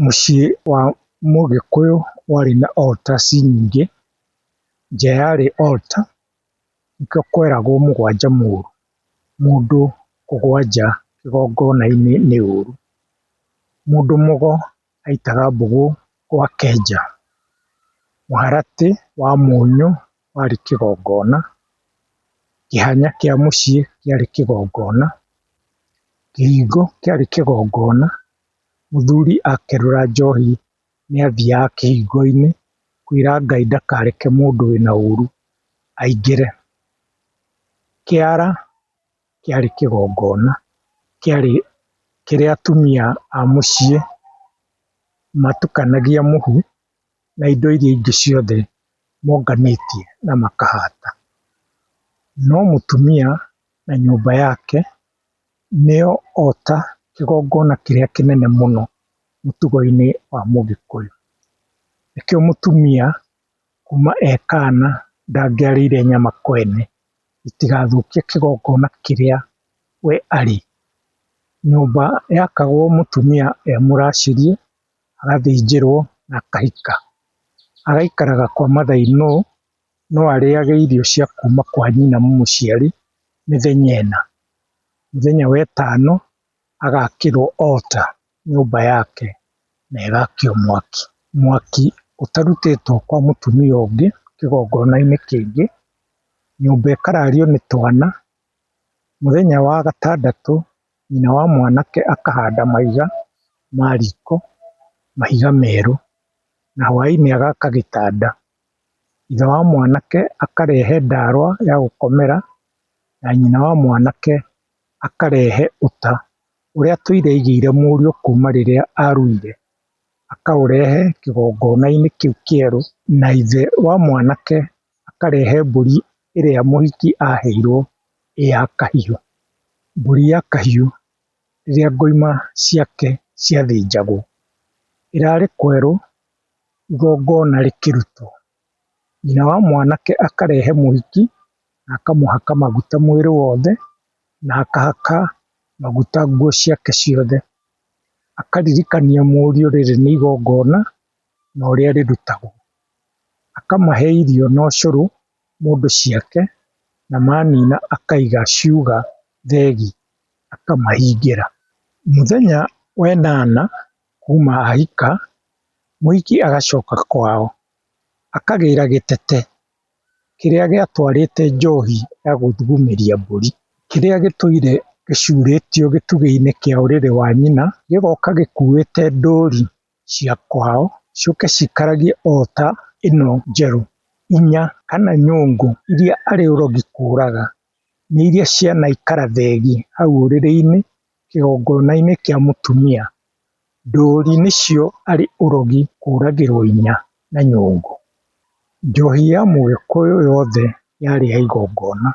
Mũciĩ wa mũgĩkũyũ warĩ na altar ci nyingĩ, nja yarĩ altar nĩkĩo kweragwo mũgwanja mũru, mũndũ kũgwanja kĩgongona-inĩ nĩ ũru, mũndũ mũgo aitaga mbũgũ gwa kenja, mũharatĩ wa mũnyũ warĩ kĩgongona, kĩhanya kĩa mũciĩ kĩarĩ kĩgongona, kĩhingo kĩarĩ kĩgongona, mũthuri akerũra njohi nĩathiaga kĩhingo-inĩ kwĩra Ngai ndakareke mũndũ wĩna ũru aingĩre. Kĩara. kĩarĩ kĩgongona, kĩarĩ kĩrĩa atumia a mũciĩ matukanagia mũhu na indo iria ingĩ ciothe monganĩtie na makahata. No mũtumia na nyũmba yake nĩo ota kĩgongona kĩrĩa kĩnene mũno mũtugo-inĩ wa mũgĩkũyũ. Nĩkĩo mũtumia Kuma e kaana ndangĩarĩire nyama kwene, itigathũkie kĩgongona kĩrĩa we arĩ. Nyũmba yakagwo mũtumia e mũracĩrie, agathĩnjĩrwo na akahika. Agaikaraga kwa mathainũ, no arĩage irio cia kuma kwa nyina mũmũciari mĩthenya ĩna. Mũthenya wa ĩtano agakĩrwo altar. nyũmba yake na ĩgakio mwaki. Mwaki ũtarutĩtwo kwa mũtumia ũngĩ kĩgongonainĩ kĩngĩ, nyũmba ĩkarario nĩ twana, mũthenya wa gatandatũ nyina wa mwanake akahanda mahiga ma riko, mahiga merũ na hwainĩ agaka gĩtanda. Thutha wa mwanake akarehe ndawa ya gũkomera na nyina wa mwanake akarehe ũta. ũrĩa tũire aigĩire mũriũ kuma rĩrĩa aruire, akaũrehe kĩgongona-inĩ kĩu kĩerũ, na ithe wa mwanake akarehe mbũri ĩrĩa mũhiki aheirwo ĩ ya kahiũ. Mbũri ya kahiũ rĩrĩa ngoima ciake ciathĩnjagwo, ĩrarĩ kwerũ igongona rĩkĩrutwo. nyina wa mwanake akarehe mũhiki na akamũhaka maguta mwĩrĩ wothe, na akahaka maguta nguo ciake ciothe, akaririkania mũriũ rĩrĩ nĩ igongona na ũrĩa rĩrutagwo, akamahe irio na ũcũrũ mũndũ ciake, na manina akaiga ciuga thegi akamahingĩra. Mũthenya wa ĩnana kuuma ahika, mũhiki agacoka kwao, akagĩra gĩtete kĩrĩa gĩatwarĩte njohi ya gũthugumĩria mbũri, kĩrĩa gĩtũire gĩcurĩtio gĩtugĩ-inĩ kĩa ũrĩrĩ wa nyina, gĩgoka gĩkuĩte ndũri cia kwao, ciũke cikaragie ota ĩno njerũ, inya kana nyũngũ iria arĩ ũrogi kũraga, nĩ iria cianaikara thenge hau ũrĩrĩ-inĩ Kĩgongona-inĩ kĩa mũtumia, ndũũri nĩcio arĩ ũrogi kũragĩrwo inya na nyũngũ. Njohi ya mũgĩkũyũ yothe yarĩ ya igongona,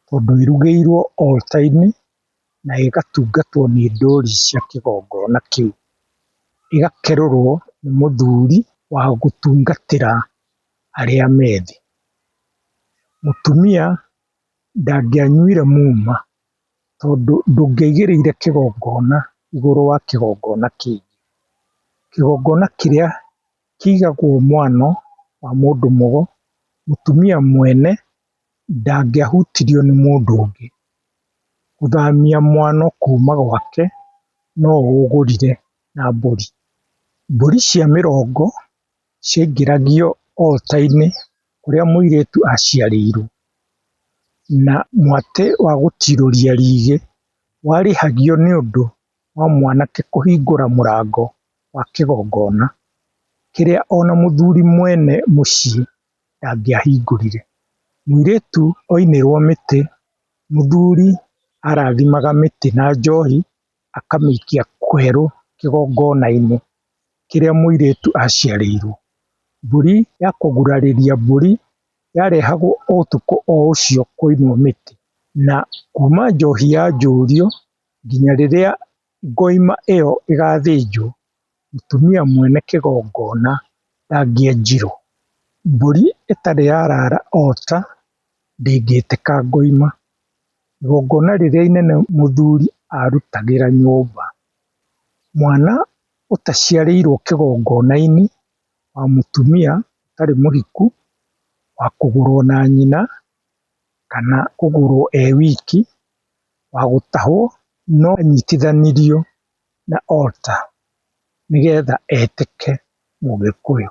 tondũ ĩrugĩirwo altar -inĩ na ĩgatungatwo nĩ ndũũri cia kĩgongona kĩu, ĩgakerũrwo nĩ mũthuri wa gũtungatĩra arĩa me thĩ. Mũtumia ndangĩanyuire muma. Tondũ ndũngĩaigĩrĩire kĩgongona igũrũ wa kĩgongona kĩngĩ. Kĩgongona kĩrĩa kĩigagwo mwena wa mũndũ mũgo, mũtumia mwene ndangĩahutirio nĩ mũndũ ũngĩ. Gũthamia mwano kuma gwake no ũgũrire na mbũri. Mbũri cia mĩrongo ciaingĩragio altar-inĩ kũrĩa mũirĩtu aciarĩirwo, na mwatĩ wa gũtirũria rĩgĩ warĩhagio nĩ ũndũ wa mwanake kũhingũra mũrango wa kĩgongona, kĩrĩa ona mũthuri mwene mũciĩ ndangĩahingũrire. Mũirĩtu oinĩrwo mĩtĩ, mũthuri arathimaga mĩtĩ na njohi. akamĩikia kwerũ kĩgongonainĩ kĩrĩa mũirĩtu aciarĩirwo. Mbũri ya kũgurarĩria mbũri yarehagwo o ũtukũ o ũcio kũinwo mĩtĩ na kuma njohi yanjũrio nginya rĩrĩa ngoima ĩyo ĩgathĩnjwo mũtumia mwene kĩgongona ndangĩenjirwo, mbũri ĩtarĩ yarara ota ndĩngĩtĩka ngoima, igongona rĩrĩa inene mũthuri arutagĩra nyũmba, mwana ũtaciarĩirwo kĩgongonainĩ wa mũtumia ũtarĩ mũhiku wa kũgũrwo na nyina kana kũgũrwo e wiki wa gũtahwo no anyitithanirio. na altar nĩgetha etĩke mũgĩkũyũ.